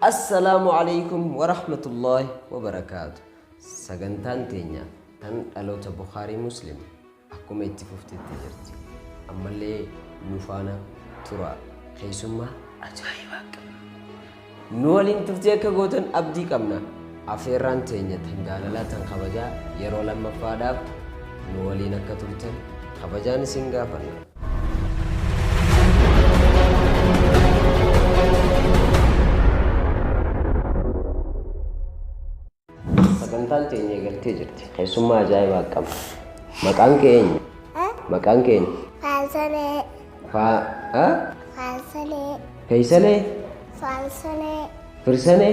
Assalaamu Aleeykum Warahmatullaahi Wabarakaatu Sagantaan teenya tan dhaloota Bukhaarii Muslim akkuma itti fufte itti jirti. Ammallee nu faana turaa. Keessummaa ajaa'ibaa qabna. Nu waliin turtii akka gootan abdii qabna. Afeerraan teenya tan jaalalaa tan kabajaa yeroo lammaffaadhaaf nu waliin akka turtan kabajaan isin gaafanna. Sagantaan teenya eegaltee jirti. Keessummaa ajaa'ibaa qabna. Maqaan kee eenyu? Maqaan kee eenyu? Faalsalee. Faa... Faalsalee. Feeysalee? Faalsalee. Firsanee?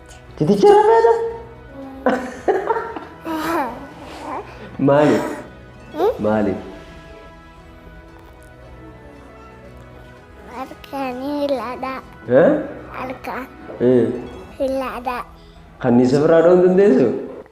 Titicha irra feeta? Maaliif? Maaliif? Halkanii hiladhaa. Eh? Halkan Eh, hiladhaa. Kanniisa biraa dha'uu hin dandeessu?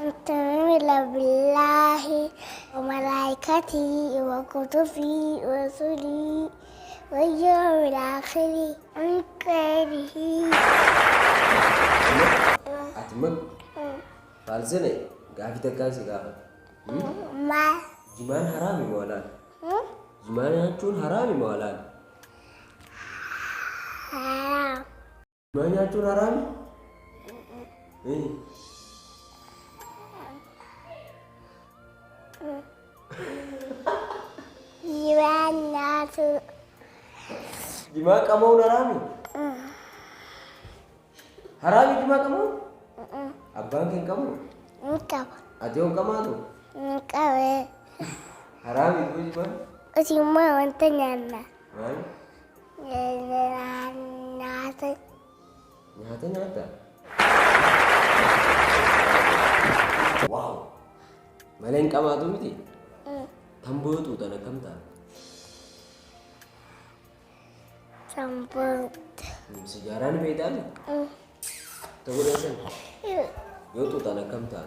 Antumila billahi wa malaikati wa kutubi wa suli wa yawmil akhiri an khairihi Ati man maal sene gaafi takkaan si gaafata. Maal? Jimaan haraami moo halaal? Jimaa nyaachuun haraami moo halaal? Haraam. Maa nyaachuun haraami? Eh. Jimaan nyaatu. Jimaa qama'uun haraami? Haraami jimaa qama'uun? Abbaan kee hin qamu? Hin qaba. Ati yoo hin qamaatu? Hin qabee. Haraami jimaa? Usimaa wanta nyaanna. Maal? Nyaata. Nyaata nyaata. Waaw! Malee hin qabaatu miti? Tamboo yoo xuuxan akkam ta'a? Tamboo. Sigaaraan beektaa mi? Ta'uu dha Yoo xuuxan akkam ta'a?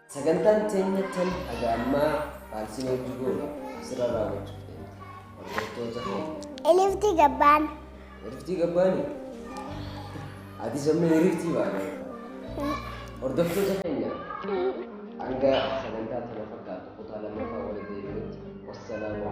Sagantaan teenya tan haga ammaa faalsiin hojii goone asirra raawwachuuf deemti. Hordoftoota keenya. Eliftii gabbaan. Eliftii gabbaani? Ati sammee eliftii baana. Hordoftoota keenya hanga sagantaa tana fakkaatu kutaa lammaffaa walitti deebinutti wassalaamu